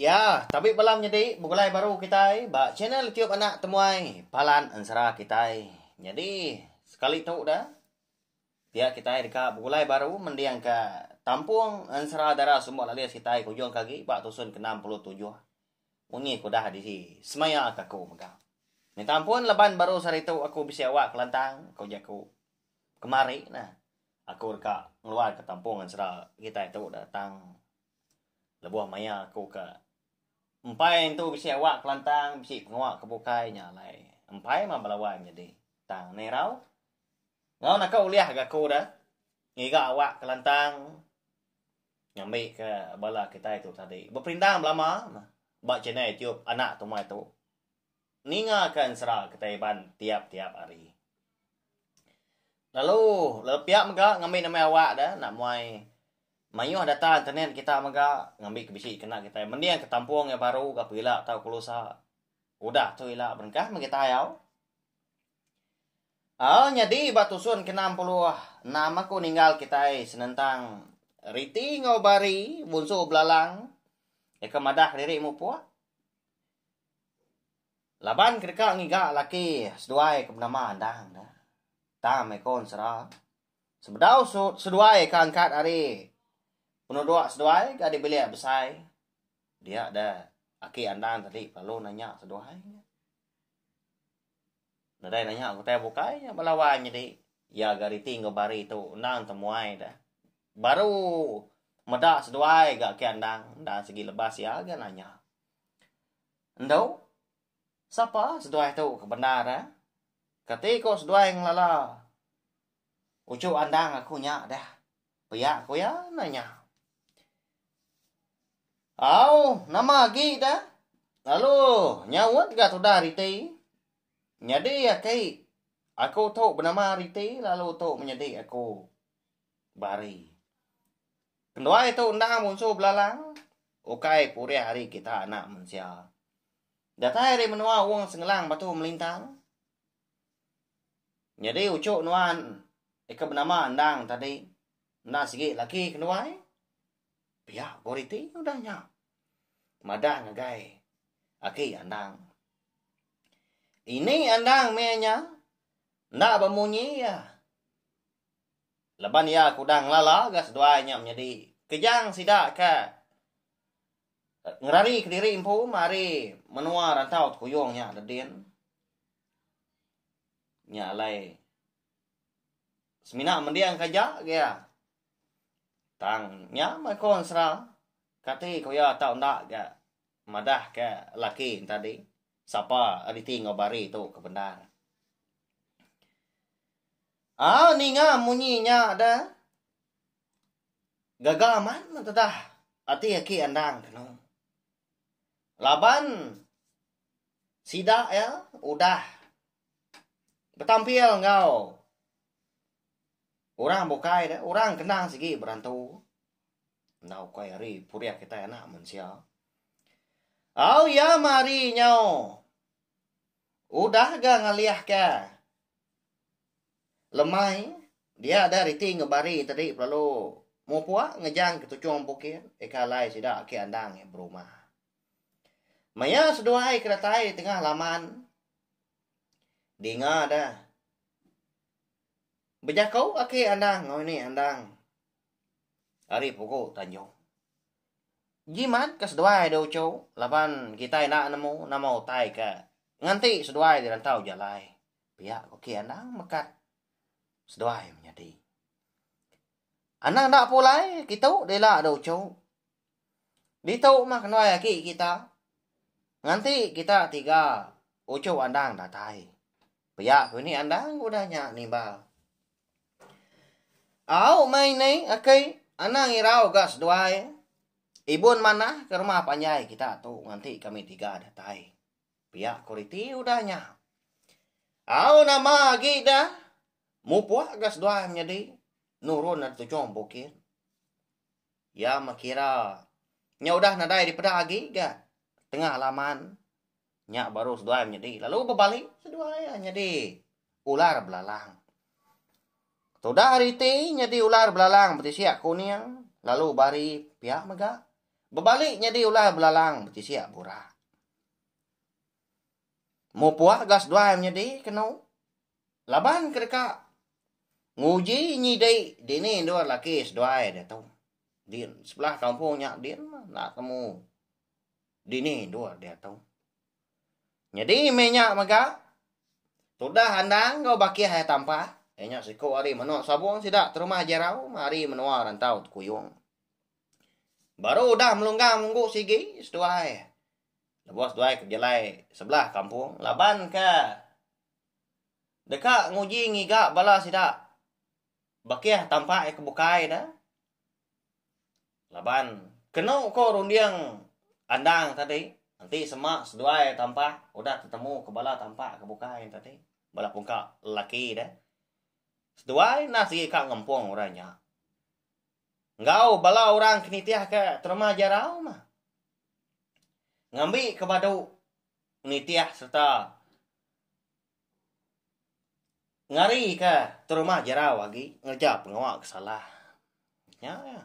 Ya, tabi bala menyedi begulai baru kitai ba channel Tube Anak Temuai Palan Ensera kitai. Nyadi, sekali tu dah, pia kitai deka begulai baru mendingka Tampung Ensera Dara Sumber Lalis kitai ke ujung ke agi ba tusun ke-67. Munyi ke udah disemayaka aku mega. Minta ampun laban baru seharitu aku bisi awak kelantang, ku jaku. Kemari nah, aku deka ngeluarka Tampung Ensera kitai tu dah tang. Lebuh maya aku ke empai entu bisi awak kelantang bisi pengawa ke bukai nya alai. Empai mah belawan nyadi tang neh irau. Enggau naka ulih ga aku deh ngiga awak kelantang ngambi ke bala kitai tu tadi. Beperindang belama ba channel YouTube anak tumai tu. ninga ke ensera kitai Iban tiap-tiap hari. Lalu lalu pia mega ngambi nama awak da enda muai mayuh data internet kita mega ngambi ke bisi kena kitai mending ke tampung iya baru ga pila tau kelusa udah tu ila berengkah meh kita ayau. Au nyadi ba tusun ke enam puluh enam aku ninggal kitai senentang Riti enggau Bari bunsu belalang deka madah diri mupuk. Laban ke deka ngiga laki seduai ke benama Andang dah. Tang meh ko ensera. Sebedau seduai ke angkat ari penuduk seduai ke ari bilik besai. Dia dah aki Andang tadi lalu nanya seduai nya. Nadai nanya ke utai bukai nya bala wang nyadi iya ga reti enggau bari tu endang temuai dah. Baru meda seduai ga aki Andang. Enda sigi lebas iya ga nanya. Endu, sapa seduai tu ke bendar eh? Kati ko seduai ngelala uchu andang aku nya deh? Pia ko iya nanya. Au, nama agi deh? Lalu nyaut ga tudah riti. Nyadi aki aku tu benama riti lalu tu menyadi aku bari. Nduai tu endang munsuh belalang, ukai purih ari kita anak mensia. Datai ari menua Ong Sengelang batu melintang. Nyadi uchu nuan ika benama endang tadi, enda sigi laki ke nduai. Pia ko riti udah nya. Madah ngagai aki andang. Ini andang meh nya enda bemunyi iya. Laban iya ke udah ngelala ga seduai nya menyadi kejang sida ke ngerari kediri empu ari menua rantau Tekuyung nya da din nya alai semina mending ka ja ga iya tang nya meh ko ensera kati ko iya tau enda ga madah ke laki tadi sapa reti enggau bari tu ke bendar. Ha ninga munyi nya da. Gaga amat ne tedah ati aki andang keno. Laban sida ya udah betampil enggau orang bukai da, orang kendang sigi berantu. Enda ukai ari purih kitai anak mensia. Au ya mari nyau. Udah ga ngalihka. Lemai, dia ada riti ngebari tadi pelalu mupua ngejang ke tuchung bukit ika alai sida ake andang iya berumah. Maya seduai ke datai tengah laman dinga da bejakau ake andang enggau ini andang ari pugu tanjung. Jimat ke seduai da uchu laban kitai enda nemu nama utai ke nganti seduai dirantau jalai. Pia ku ki anang mekat seduai menyadi. Anang enda pulai kitu dila ada uchu. Ditu mah kenduai aki kita. Nganti kita tiga uchu andang datai. Pia ku ini andang udah nya nimbal. Au meh ini aki anang irau ga seduai. Ibun manah ke rumah panjai kita tu nganti kami tiga datai. Pia kualiti udah nya. Au nama agi da mupuk ga seduai menyadi nurun ari tujung bukit. Iya meh kira nya udah nadai dipeda agi ga tengah laman. Nya baru seduai menyadi lalu bebali seduai iya nyadi ular belalang. Tudah ari ti nyadi ular belalang betisik kuning lalu bari pia mega bebali nyadi ular belalang betisik burak. Mupuk ga seduai menyedi kenu laban ke deka nguji nyidi dini endur laki seduai diatu. Din sebelah kampung nya din mah enda temu dini endur diatu. Nyadi meh nya mega tudah andang enggau bakih iya tampa iya nya siku ari menu sabung sida terumah jerau meh ari menua rantau tekuyung. Baru udah melunggang munggu sigi seduai lebuh seduai ke bejalai sebelah kampung laban ke deka nguji ngiga bala sida bakih tampa iya ke bukai ne laban kenu ko runding andang tadi enti sema seduai tampa udah tetemu ko bala tampa ke bukai ne tadi bala pungka lelaki de seduai enda sigi ka ngempung orang nya. enggau bala orang ke nitihka terma jarau mah ngambika badu nitih sereta ngarika terma jarau agi ngereja pengawa ke salah. Nya iya.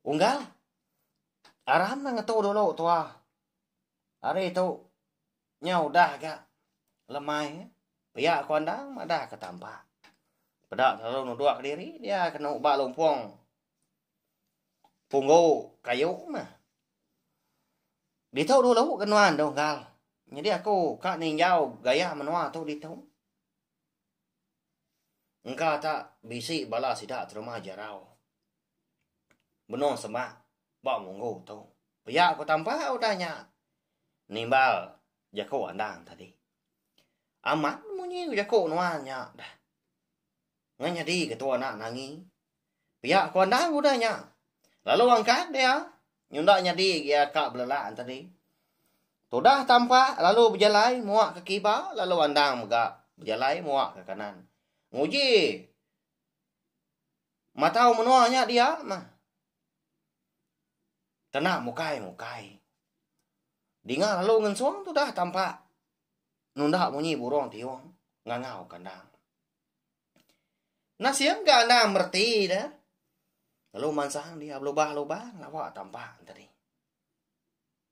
Unggal aram nang ngetu dulu tuah. Hari tu Nya udah ga lemai pia ko andang madah ke tampa. Peda selalu nudok ke diri dia kena uba lumpong punggu kayu meh. Ditu dulu ke nuan tu gal. Nyadi aku ka ninjau gaya menua tu ditu. Engka ta bisi bala sida terima jarau. Benung semak ba munggu tu. Pia ku tampa udah nya nimbal jaku andang tadi. Amat munyi jaku nuan nya dah. Ngan nyadi ketua anak nangi. Pia ku andang udah nya. Lalu angkat dia nyunda nyadi gia ka belelak tadi. Tudah tampa lalu bejalai muak ke kiba lalu andang mega bejalai muak ke kanan. Nguji. Matau menoa nya dia mah. Kena mukai mukai. Dinga lalu ngensong tu dah tampak. Nunda munyi burung tiung. Ngangau kandang. Nasim ke anda merti dah. Lalu mansang dia berlubah-lubah. Lawa tampak tadi.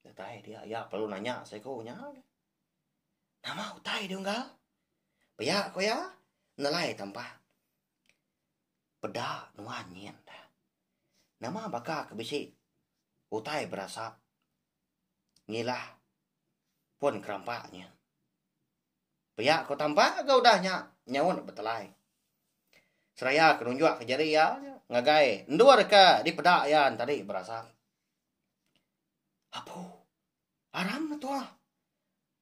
Utai dia. Ya perlu nanya seko nya. Nama utai dia enggak? Pia ko ya. Nelai tampak. Peda nuan nyin da. Nama baka ke bisi utai berasap ngilah pun kerampa nyin. Pia ku Tampa ke udah nya nyaut betelai. Seraya ke nunjuk ke jari iya ngagai endur ke dipeda iya tadi berasap. Apu Aram ne tua.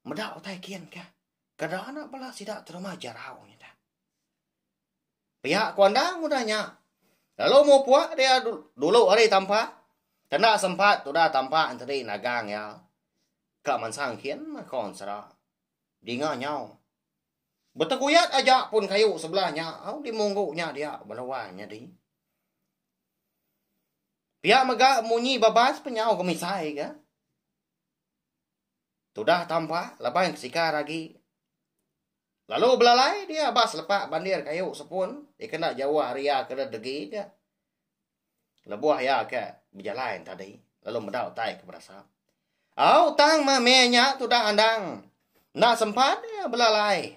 Meda utai kin ka. Kada anak bala sida terima jarau nya dah. Pia ku anda ngudah nya. Lalu mupuk dia dulu ari tampa. Kena sempat tudah tampa enteri nagang iya. Ka mansang kin ko ensera. Dinga nyau. Beteguyat aja pun kayu sebelah nya au dimunggu nya dia beluan nyadi. Pia mega munyi babas penyau ke misai ke. Tudah tampa laban ke sikar agi. Lalu belalai dia ba selepak bandir kayu sepun dikena jauh ari iya ke degi ke. Lebuh iya ke bejalai tadi lalu meda utai ke berasap. Au tang mame nya tudah andang. Enda sempat belalai.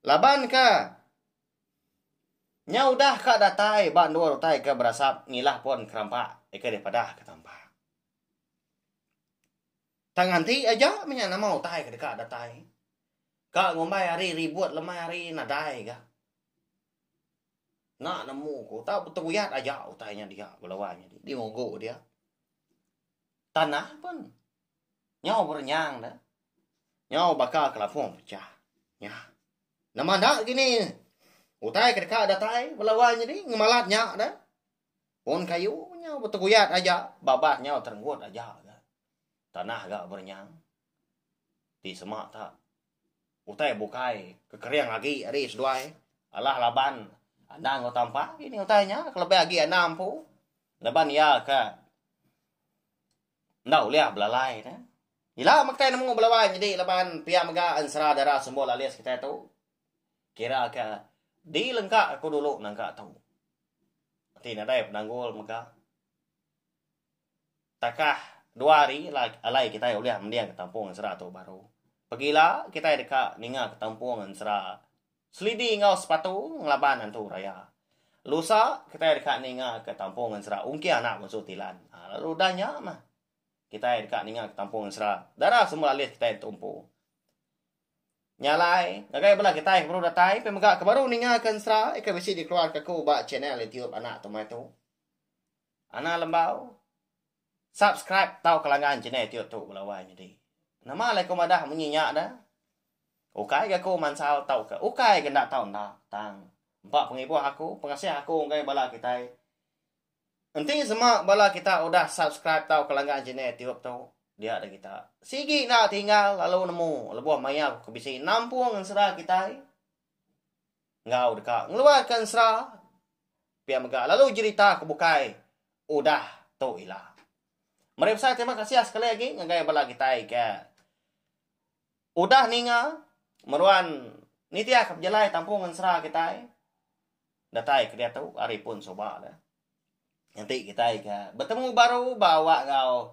Laban ke Nya udah ka datai ba endur utai ke berasap ngilah pun kerampak ika dipadah ke tampak. Tang nganti aja menya nama utai ke deka datai. Ka ngumbai hari ribut lemai hari nadai ga. Enda nemu ku tau betuyat aja utai nya dia belawa nya di ngugu dia. Tanah pun. nyau berenyang da, nyau baka kelapung pecah. Nya. Nama enda kini utai ke deka datai bala wang nyadi ngemalat nya da. Pun kayu nyau beteguyat aja, babas nyau terenggut aja ga. Tanah ga berenyang. Ti sema ta utai bukai kekering agi ari seduai alah laban anda enggau Tampa kini utai nya kelebih agi anda empu laban iya ka Enda ulih belalai ne. Ila meh kitai nemu belawai nyedi laban pia mega ensera dara sumber lalis kitai tu. Kira ke dilengka aku dulu nangka tu. Ti nadai penanggul mega. Takah dua hari alai kitai ulih mending ke tampung ensera tu baru. Pegila kitai deka ninga ke tampung ensera Selidi enggau sepatu ngelaban Antu Raya. Lusa, kitai deka ninga ke Tampung Ngensera ungkir anak munsu Tilan. Aa lalu udah nya mah. Kitai deka ninga ke Tampung Ngensera. Dara semua alis kitai ditumpu. Nya alai, ngagai bala kitai ke baru datai pemega ke baru ninga ke Ngensera, ika bisi dikeluarka aku ba channel YouTube anak Tomai tu. Ana lembau subscribe tauka langgan channel tiu tu belawai nyadi. Nama alai ku madah munyi nya da? Ukai ga ku mansal tauka ukai ga enda tau enda tang empa pengibuh aku pengasih aku enggai bala kitai. Enti sema bala kita udah subscribe tauka langgan channel tiu tu dia da kita. Sigi enda tinggal lalu nemu lebuh maya ku bisi nampung ensera kitai. enggau deka ngeluarka ensera pia mega lalu jerita ke bukai udah tu ila. Meri besai terima kasih sekali agi ngagai bala kitai ke udah ninga meruan nitihka pejalai tampung ensera kitai datai kediatu ari pun suba le. Enti kitai ke betemu baru ba awak enggau